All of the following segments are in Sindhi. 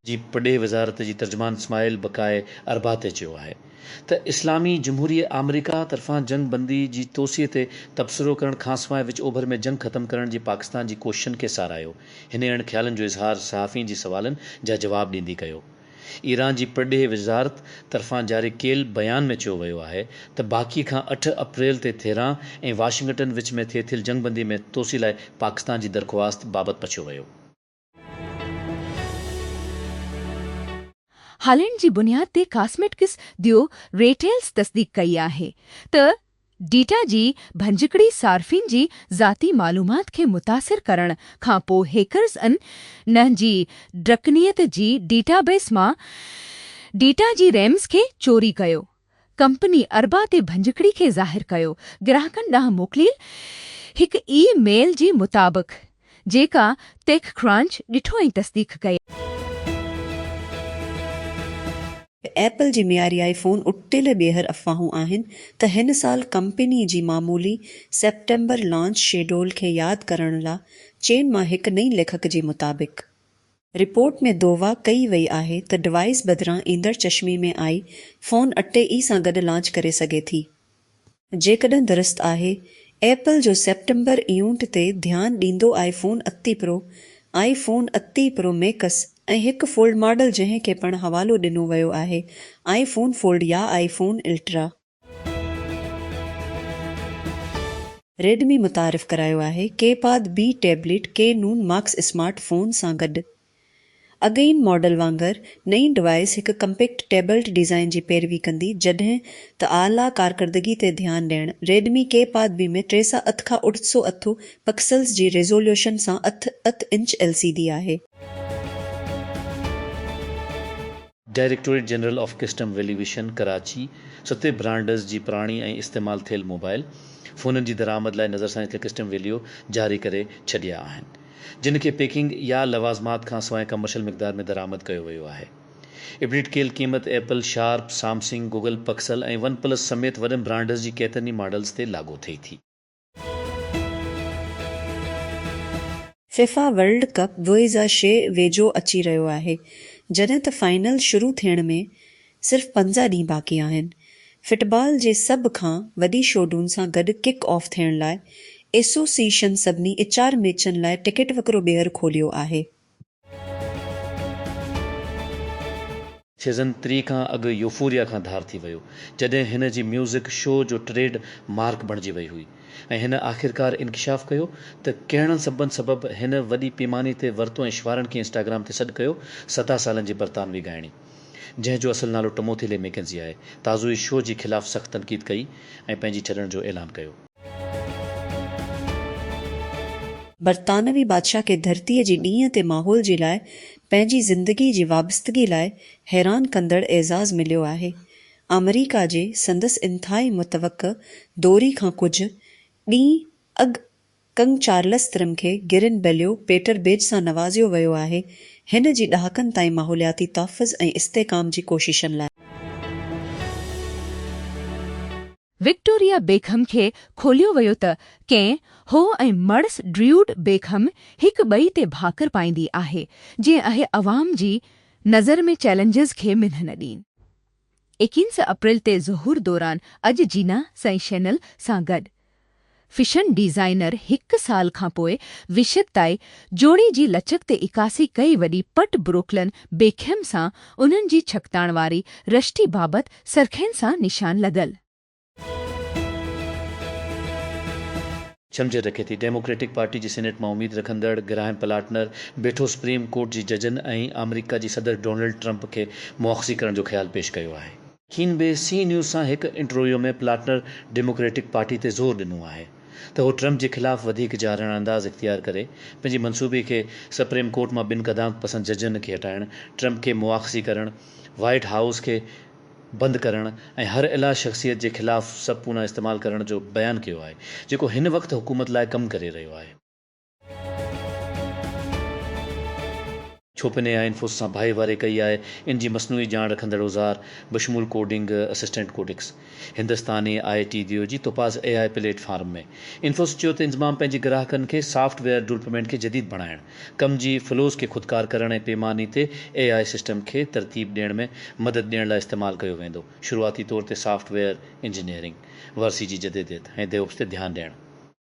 جي پرڏيهه وزارت جي ترجمان اسماعيل بقائي اربعاطي چيو آهي ته اسلامي جمهوريه آمريڪا طرفان جنگ بندي جي توسيع تي تبصرو ڪرڻ کانسواء وچ اوڀر ۾ جنگ ختم ڪرڻ جي پاڪستان جي ڪوششن کي ساراهيو. هن اهڙن خيالن جو اظهار صحافين جي سوالن جا جواب ڏيندي ڪيو. ايران جي پرڏيهي وزارت طرفان جاري ڪيل بيان ۾ چيو ويو آهي ته باڪي کان اٺ اپريل تي تهران ۽ واشنگٽن وچ ۾ ٿي ٿيل جنگ بندي ۾ توسيع لاء پاڪستان جي درخواست بابت پڇيو ويو. هالينڊ جي بنياد تي ڪاسميٽڪس ديو ريٽيلز تصديق ڪئي آهي ته ڊيٽا جي ڀڃڪڙي صارفين جي ذاتي معلومات کي متاثر ڪرڻ کان پوء هيڪرز ان نهن جي ڊرڪنيت جي ڊيٽا بيس مان ڊيٽا جي ريمز کي چوري ڪيو ڪمپني اربع تي ڀڃڪڙي کي ظاهر ڪيو گراهڪن ڏانهن موڪليل هڪ اي ميل جي مطابق جيڪا ٽيڪ ڪرانچ ڏٺو ۽ تصديق ڪئي. ايپل جي معياري آئي فون اٽڪل ٻيهر افواهون آهن ته هن سال ڪمپني جي معمولي سيپٽمبر لانچ شيڊول کي ياد ڪرڻ لا چين مان هڪ نئين ليکڪ جي مطابق رپورٽ ۾ دووا ڪئي وئي آهي ته ڊوائيس بدران ايندڙ چشمي ۾ آئي فون اٽي اي سان گڏ لانچ ڪري سگهي ٿي. جيڪڏهن درست آهي، ايپل جو سيپٽمبر ايونٽ تي ڌيان ڏيندو آئي فون اتي پرو، آئي فون اتي پرو ميڪس ۽ هڪ فولڊ ماڊل جنهن کي پڻ حوالو ڏنو ويو آهي آئي فون فولڊ يا آئي فون الٽرا. ريڊمي متعارف ڪرايو آهي ڪي پاد بي ٽيبليٽ ڪي نون ماڪس اسمارٽ فون سان گڏ. اڳئين ماڊل وانگر نئين ڊوائيس هڪ ڪمپيڪٽ ٽيبلٽ ڊيزائن جي پيروي ڪندي جڏهن ته اعليٰ ڪارڪردگي تي ڌيان ڏيڻ ريڊمي ڪي پاد بي ۾ ٽي سئو اٺ کان اٺ سئو اٺ پڪسلز جي ريزوليوشن سان اٺ اٺ انچ ايل سي ڊي آهي. Directorate general of custom valuation Karachi ستي برانڊز جي پراڻي ۽ استعمال ٿيل موبائل فونن جي درآمد لاء نظرثاني تي ڪسٽم ويليو جاري ڪري ڇڏيا آهن جن کي پيڪنگ يا لوازمات کان سواء ڪمرشل مقدار ۾ درآمد ڪيو ويو آهي ابڊيٽ ڪيل قيمت Apple, Sharp, Samsung, Google Pixel ۽ OnePlus سميت وڏن برانڊز جي ڪيترن ئي ماڊلز تي لاڳو ٿئي ٿي. فيفا ورلڊ ڪپ دوه هزار ڇهه ويجهو اچي رهيو آهي، جڏهن ته فائنل شروع ٿيڻ ۾ صرف پنجاهه ڏينهن باقي آهن. فٽبال جي سڀ کان وڏي شوڊون سان گڏ ڪڪ آف ٿيڻ لاء ايسوسيئيشن سڀني اچار ميچن لاء ٽڪيٽ وڪرو ٻيهر کوليو آهي. سيزن ٽي کان اڳ يوفوريا کان ڌار ٿي ويو جڏهن هن جي ميوزڪ شو جو ٽريڊ مارڪ بڻجي وئي هئي ۽ هن آخرڪار انڪشاف ڪيو ته ڪهڙن سببن سبب هن وڏي پيماني تي ورتو ۽ شوارن کي انسٽاگرام تي سڏ ڪيو ستاهه سالن جي برطانوي ڳائڻي جنهن جو اصل نالو ٽموٿي لي ميڪينزي آهي تازو ئي شو جي خلاف سخت تنقيد ڪئي ۽ پنهنجي ڇڏڻ جو اعلان ڪيو. برطانوي بادشاهه کي ڌرتيء جي ڏينهن تي ماحول جي لاء پنهنجي زندگي جي وابستگي لاء حيران ڪندڙ اعزاز مليو آهي. آمريڪا جي سندس انتهائي متوقع دوري کان ڪجهه ڏينهن اڳ ڪنگ چارلس ترم کي گرين بليو پيٽر بيج سان نوازيو ويو آهي، هن جي ڏهاڪن تائين ماحولياتي تحفظ ۽ استحڪام جي ڪوششن لاء. وڪٽوريا بيڪهم کي کوليو ويو ته ڪين هو ۽ مڙس ڊريوڊ بيڪهم هڪ ٻئي تي ڀاڪر پائيندي آهي جيئن اهي عوام جي نظر ۾ چئلينجز کي منهن نه ڏين. ايڪينس اپريل تي ظهور دوران اڄ جينا سئي شينل سان گڏ فيشن ڊيزائنر هڪ سال کان پوء وشد تائي جوڙي جي لچڪ تي عڪاسي ڪئي وڏي پٽ بروڪلن بيڪهم سان انهن جي ڇڪتاڻ واري رشتي بابت سرخين سان نشان لڳل. ڇمجهر رکي ٿي. ڊيموڪريٽڪ پارٽي جي سينيٽ مان اميد رکندڙ گراهيم پلاٽنر بيٺو سپريم ڪورٽ جي ججن ۽ آمريڪا جي صدر ڊونلڊ ٽرمپ کي مواخذي ڪرڻ جو خيال پيش ڪيو آهي. کين بي سي نيوز سان هڪ انٽرويو ۾ پلاٽنر ڊيموڪريٽڪ پارٽي تي زور ڏنو آهي ته هو ٽرمپ جي خلاف وڌيڪ جارحاڻه انداز اختيار ڪري پنهنجي منصوبي کي سپريم ڪورٽ مان ٻن قدامت پسند ججن کي هٽائڻ، ٽرمپ کي مواخذي ڪرڻ، وائيٽ هائوس کي بند ڪرڻ ۽ هر الا شخصيت جي خلاف سب پونا استعمال ڪرڻ جو بيان ڪيو آهي جيڪو هن وقت حڪومت لاء ڪم ڪري رهيو آهي. ڇو پني يا انفوس سان ڀائيواري ڪئي آهي ان جي مصنوعي ڄاڻ رکندڙ اوزار بشمول ڪوڊنگ اسسٽنٽ ڪوڊڪس هندستاني آء ٽي ديو جي توپاز اي آء پليٽ فارم ۾ انفوس چيو ته انضمام پنهنجي گراهڪن کي سافٽ ويئر ڊولپمينٽ کي جديد بڻائڻ ڪم جي فلوز کي خودڪار ڪرڻ ۽ پيماني تي اي آء سسٽم کي ترتيب ڏيڻ ۾ مدد ڏيڻ لاء استعمال ڪيو ويندو شروعاتي طور تي سافٽ ويئر انجنيئرنگ ورثي جي جديديت ۽ ديوپس تي ڌيان ڏيڻ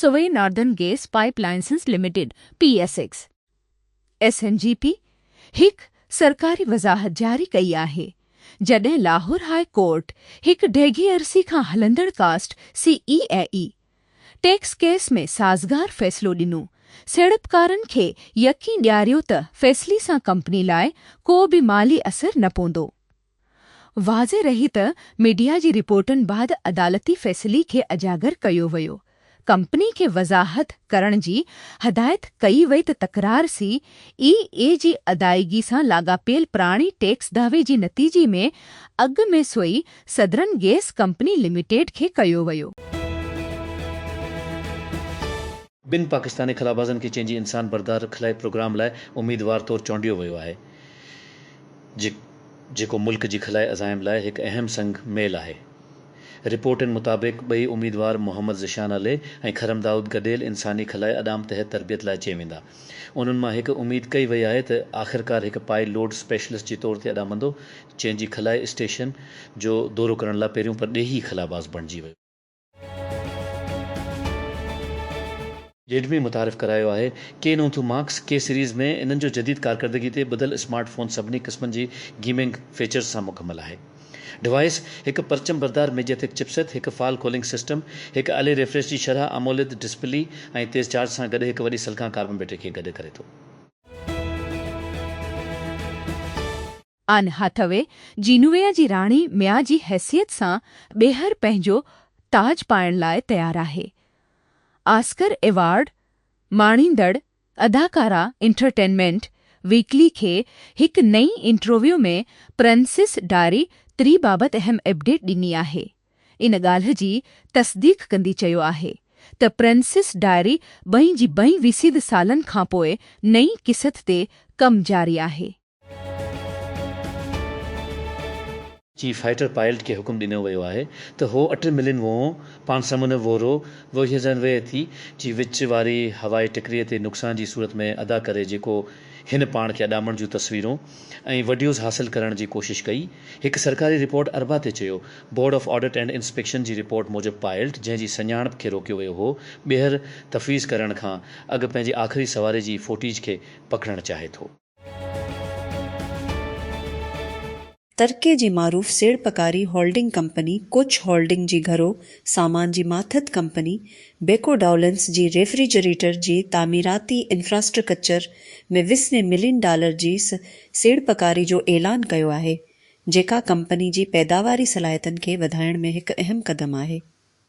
Sui Northern Gas Pipelines Limited, P S X, S N G P, هڪ سرڪاري وضاحت جاري ڪئي آهي، جڏهن لاهور هاء ڪورٽ هڪ ڊيگهي عرصي کان هلندڙ ڪاسٽ C A A A tax case ۾ سازگار فيصلو ڏنو، سيڙپڪارن کي يقين ڏياريو ته فيصلي سان ڪمپني لاء ڪو به مالي اثر نه پوندو. واضح رهي ته ميڊيا جي رپورٽن بعد عدالتي فيصلي کي اجاگر ڪيو ويو، ڪمپني کي وضاحت ڪرڻ جي هدايت ڪئي وئي ته تڪرار سي اي اي جي ادائيگي سان لاڳاپيل پراڻي ٽيڪس دعوي جي نتيجي ۾ اڳ ۾ Sui Southern Gas Company Limited کي ڪيو ويو. ٻن پاڪستاني خلابازن کي چين جي انسان بردار خلائي پروگرام لاء اميدوار طور چونڊيو ويو آهي جي جيڪو ملڪ جي خلائي عزائم لاء هڪ اهم سنگ ميل آهي. رپورٽن مطابق ٻئي اميدوار محمد ذيشان علي ۽ خرم دائود گڏيل انساني خلائي اڏام تحت تربيت لاء چي ويندا. انهن مان هڪ اميد ڪئي وئي آهي ته آخرڪار هڪ پائي لوڊ اسپيشلسٽ جي طور تي اڏامندو چين جي خلائي اسٽيشن جو دورو ڪرڻ لاء پهريون پرڏيهي خلاباز بڻجي ويو. جيڊ ۾ متعارف ڪرايو آهي. ڪي نون ٿيون ماڪس ڪي سيريز ۾ انهن جو جديد ڪارڪردگي تي ٻڌل اسمارٽ فون سڀني قسمن جي گيمنگ فيچرز سان مڪمل آهي. ڊوائيس هڪ پرچم بردار ميڊيا تيڪ چپ سيٽ، هڪ فال ڪولنگ سسٽم، هڪ الي ريفريش جي شرح اموليد ڊسپلي ۽ تيز چارج سان گڏ هڪ وڏي سلڪان ڪاربن بيٽري کي گڏ ڪري ٿو. آن هاٿوي جينويا جي راڻي ميا جي حيثيت سان ٻيهر پنهنجو تاج پائڻ لاء تيار آهي. آسڪر ايوارڊ ماڻيندڙ اداڪارا انٽرٽينمينٽ ويڪلي کي هڪ نئين انٽرويو ۾ پرنسيس ڊاري تري بابت اهم اپڊيٽ ڏني آهي. ان ڳالهه جي تصديق ڪندي چيو آهي ته پرنسيس ڊائري ٻئي جي ٻئي ويسيد سالن کانپوء نئين قسط تي ڪم جاري آهي. چيف فائيٽر پائلٽ کي حڪم ڏنو ويو آهي ته هو اٽن ملين ووهون پان سمنو ووهرو ووهيزن ويهه ٿي جي وچ واري هوائي ٽڪري تي نقصان جي صورت ۾ ادا ڪري جيڪو هن پاڻ کي اڏامڻ جون تصويرون ۽ وڊيوز حاصل ڪرڻ جي ڪوشش ڪئي هڪ سرڪاري رپورٽ اربع تي چيو Board of Audit and Inspection جي رپورٽ موجب پائلٽ جنهن جي سڃاڻپ کي روڪيو ويو هو ٻيهر تفويض ڪرڻ کان اڳ پنهنجي آخري سواري جي فوٽيج کي پڪڙڻ چاهي ٿو. ترڪي جي معروف سيڙپڪاري هولڊنگ ڪمپني ڪوچ هولڊنگ جي گهرو سامان جي ماٿت ڪمپني بيڪو ڊائولنس جي ريفريجريٽر جي تعميراتي انفراسٽرڪچر ۾ وسوين ملين ڊالر جي سيڙپڪاري جو اعلان ڪيو آهي جيڪا ڪمپني جي پيداواري صلاحيتن کي وڌائڻ ۾ هڪ اهم قدم آهي.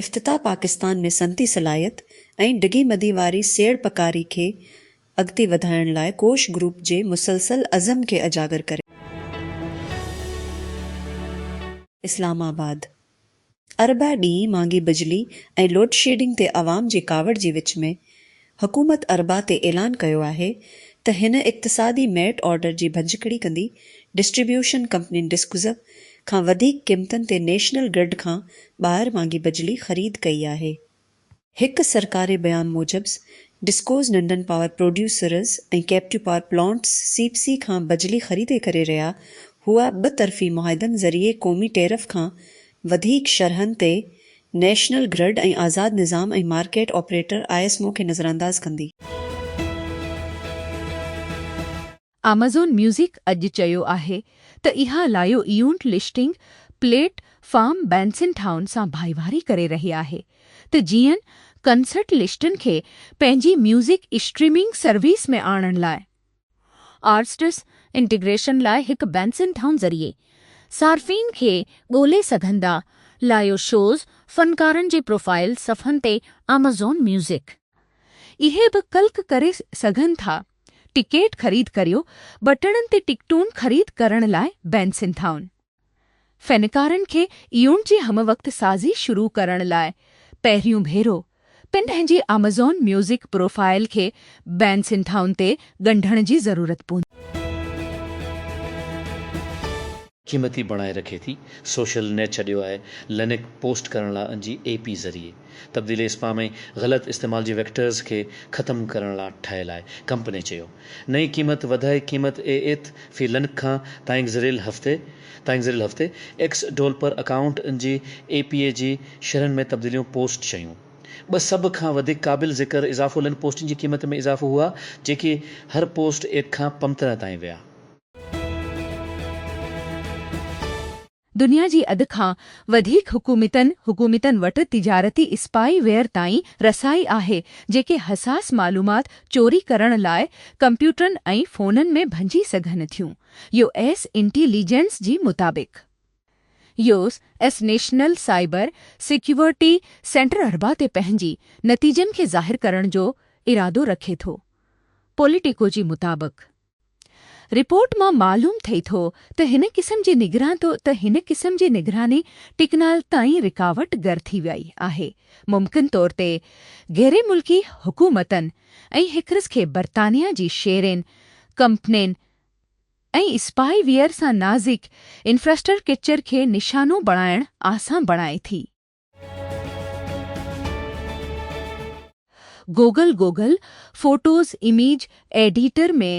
افتتاح پاڪستان ۾ صنعتي صلاحيت ۽ ڊگهي مدي واري سيڙپڪاري کي اڳتي وڌائڻ لاء ڪوش گروپ جي مسلسل عزم کي اجاگر ڪري ٿو. اسلام آباد، اربع ڏينهن مھانگي بجلي ۽ لوڊشيڊنگ تي عوام جي ڪاوڙ جي وچ ۾ حڪومت اربع تي اعلان ڪيو آهي ته هن اقتصادي ميرٽ آرڊر جي ڀڃڪڙي ڪندي ڊسٽريبيوشن ڪمپنين ڊسڪوزه کان وڌيڪ قيمتن تي نيشنل گرڊ کان ٻاهر مانگي بجلي خريد ڪئي آهي. هڪ سرڪاري بيان موجب ڊسڪوز ننڍن power producers ۽ captive power plants C P C کان بجلي خريدي ڪري رهيا هئا ٻه طرفي معاهدن ذريعي قومي ٽيرف کان وڌيڪ شرحن تي نيشنل گرڊ ۽ آزاد نظام ۽ market operator I S M O کي نظرانداز ڪندي. آمازون ميوزڪ اڄ چيو آهي ته اها live event listing platform Bandsintown سان ڀائيواري ڪري رهي آهي ته جيئن ڪنسرٽ لسٽن کي پنهنجي ميوزڪ اسٽريمنگ سروس ۾ آڻڻ لاء آرٽسٽس انٽيگريشن لاء هڪ بينسن ٽائون ذريعي صارفين کي ڳولي سگهندا لائيو شوز فنڪارن جي پروفائيل صفحن تي آمازون ميوزڪ. اهي به ڪلڪ ڪري سگهن ٿا ٽڪيٽ خريد ڪريو بٽڻن تي ٽڪٽون خريد ڪرڻ لاء بينسن ٽائون. فنڪارن کي ايون جي ھم وقت سازي شروع ڪرڻ لاء پهريون ڀيرو پن پنهنجي آمازون ميوزڪ پروفائيل کي بين سنڌائن تي ڳنڍڻ جي ضرورت پوندي. قيمتي بڻائي رکي ٿي سوشل نيٽ ڇڏيو آهي لنڪ پوسٽ ڪرڻ لاء ان جي اي پي ذريعي. تبديلي اسپام ۽ غلط استعمال جي ويڪٽرز کي ختم ڪرڻ لا ٺهيل آهي، ڪمپني چيو. نئين قيمت وڌائي قيمت اي ايٿ في لنڪ کان تائينگزريل هفتي تائينگزريل هفتي ايڪس ڊولپر اڪائونٽ ان جي اي پي اي جي شرحن ۾ تبديليون پوسٽ شيون ٻه سڀ کان وڌيڪ قابل ذڪر اضافو لنڪ پوسٽن جي قيمت ۾ اضافو هئا جيڪي هر پوسٽ ايڪ کان پمترهه تائين ويا. دنيا جي اڌ کان وڌيڪ حڪومتن حڪومتن وٽ تجارتي اسپائي ويئر تائين رسائي آهي جيڪي حساس معلومات چوري ڪرڻ لاء ڪمپيوٽرن ۽ فونن ۾ ڀڃي سگهن ٿيون يو ايس انٽي ليجنس جي مطابق U S National Cyber Security سينٽراربع تي پنهنجي نتيجن کي ظاهر ڪرڻ جو ارادو رکي ٿو پوليٽيڪو جي مطابق رپورٽ مان معلوم ٿئي ٿو ته هن قسم جي نگران ته هن قسم جي نگراني ٽڪنال تائين رڪاوٽ گر ٿي وئي آهي ممڪن طور تي غيري ملڪي حڪومتن ۽ هڪرس کي برطانيا جي شيرين ڪمپنين ۽ اسپائي ويئر سان نازڪ انفراسٽرڪچر کي نشانو بڻائڻ آسان بڻائي ٿي. Google Google Photos image editor ۾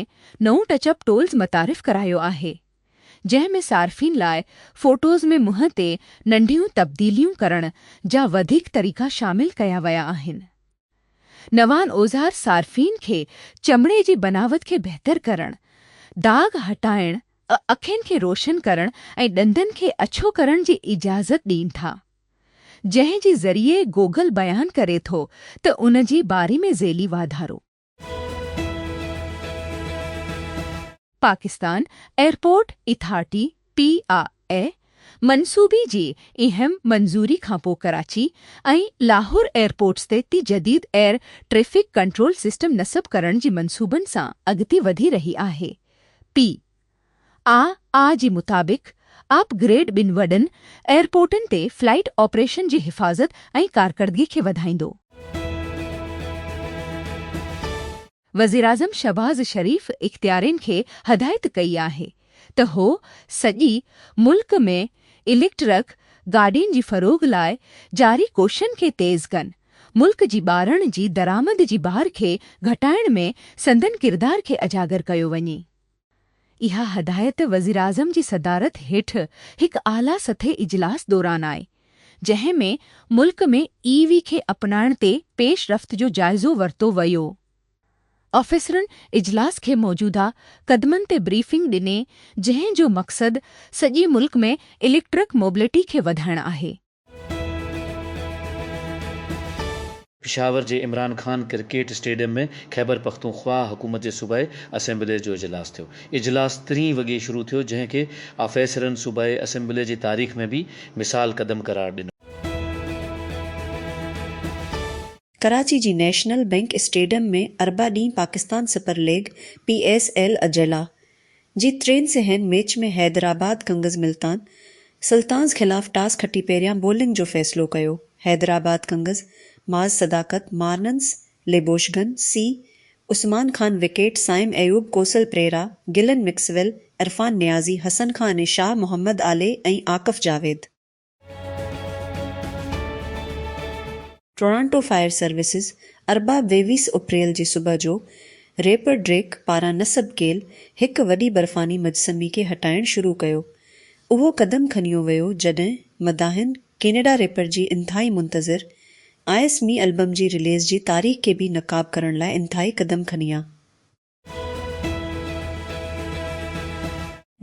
نئون ٽچ اپ ٽولز متعارف ڪرايو آهي، جنهن ۾ صارفين لاء فوٽوز ۾ منهن تي ننڍيون تبديليون ڪرڻ جا وڌيڪ طريقا شامل ڪيا ويا آهن. نوان اوزار صارفين کي چمڙي جي بناوت کي بهتر ڪرڻ، داغ هٽائڻ، اکين کي روشن ڪرڻ ۽ ڏندن کي اڇو ڪرڻ جي اجازت ڏين ٿا. جنهن جي ذريعي گوگل بيان ڪري ٿو ته ان جي باري ۾ ذيلي واڌارو. Pakistan Airport Authority, P I A, منصوبي جي اهم منظوري کانپوء ڪراچي ۽ لاهور ايئرپورٽس تي تي جديد ايئر ٽريفڪ ڪنٽرول سسٽم نصب ڪرڻ جي منصوبن سان اڳتي وڌي رهي آهي. پي آء اي جي مطابق اپ گريڊ ٻن وڏن ايئرپورٽن تي فلائيٽ آپريشن جي حفاظت ۽ ڪارڪردگي کي وڌائيندو. وزيراعظم شهباز شريف اختيارين کي هدايت ڪئي آهي ته هو سڄي ملڪ ۾ اليڪٽرڪ گاڏين جي فروغ لاء جاري ڪوششن کي تيز ڪن، ملڪ جي ٻارڻ جي درآمد جي بار کي گهٽائڻ ۾ سندن ڪردار کي اجاگر ڪيو وڃي. اها هدايت وزيراعظم جي صدارت هيٺ هڪ اعليٰ سطحي اجلاس دوران آئي، جنهن ۾ ملڪ ۾ اي وي کي اپنائڻ تي پيش رفت جو جائزو ورتو ويو. آفيسرن اجلاس کي موجوده قدمن تي بريفنگ ڏني، جنهن جو مقصد سڄي ملڪ ۾ اليڪٽرڪ موبلٽي کي وڌائڻ آهي. پشاور جي عمران خان ڪرڪيٽ اسٽيڊيم ۾ خيبرپختونخواهه حڪومت جي صوبائي اسيمبلي جو اجلاس ٿيو. اجلاس ترين وڳي شروع ٿيو جنهن کي آفيسرن صوبائي اسيمبلي جي تاريخ ۾ به مثال قدم قرار ڏنو. ڪراچي جي نيشنل بئنڪ اسٽيڊيم ۾ اربع ڏينهن Pakistan Super League, P S L, اجلاء جي ٽين سهين match ۾ Hyderabad Kings Multan Sultans خلاف ٽاس کٽي پهريان بولنگ جو فيصلو ڪيو، حيدرآباد ڪنگز معاذ صداقت، مارنس ليبوشگن، سي عثمان خان وڪيٽ، سائم ايوب، ڪوسل پريرا، گلن مڪسويل، عرفان نيازي، حسن خان ۽ شاهه محمد آلي ۽ Akif Javed. Toronto Fire Services اربع ويويس اپريل جي صبح جو ريپر ڊريڪ پاران نصب ڪيل هڪ وڏي برفاني مجسمي کي هٽائڻ شروع ڪيو. اهو قدم کنيو ويو جڏهن مداحن ڪينيڊا ريپر جي انتهائي منتظر آئس مي البم جي رليز جي تاريخ کي به نقاب ڪرڻ لاء انتهائي قدم کنيا.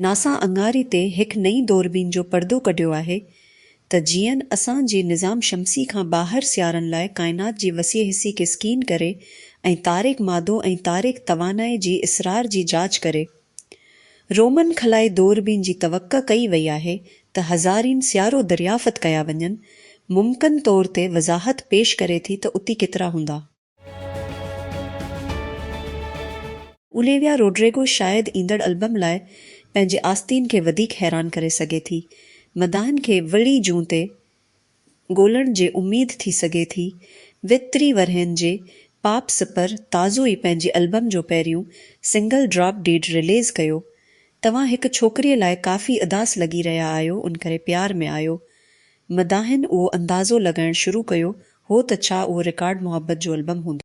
ناسا اڱاري تي هڪ نئين دوربين جو پردو ڪڍيو آهي ته جيئن اسان جي نظام شمسي کان ٻاهر سيارن لاء ڪائنات جي وسيع حصي کي اسڪين ڪري ۽ تاريڪ مادو ۽ تاريڪ توانائي جي اسرار جي جاچ ڪري. رومن خلائي دوربين جي توقع ڪئي وئي آهي ته هزارين سيارو دريافت ڪيا وڃن، ممڪن طور تي وضاحت پيش ڪري ٿي ته اتي ڪيترا هوندا. اوليويا روڊريگو شايد ايندڙ البم لاء پنهنجي آستين کي وڌيڪ حيران ڪري سگهي ٿي. مداحن کي وڙي جون تي ڳولڻ جي اميد ٿي سگهي ٿي. ويهه ٽيهه ورهين جي پاپ سپر تازو ئي پنهنجي البم جو پهريون سنگل ڊراپ ڊيڊ رليز ڪيو. توهان هڪ ڇوڪريء لاء ڪافي اداس لڳي رهيا آهيو ان ڪري پيار ۾ آيو. مداحن اهو اندازو لڳائڻ شروع ڪيو هو ته ڇا اهو رڪارڊ محبت جو البم هوندو؟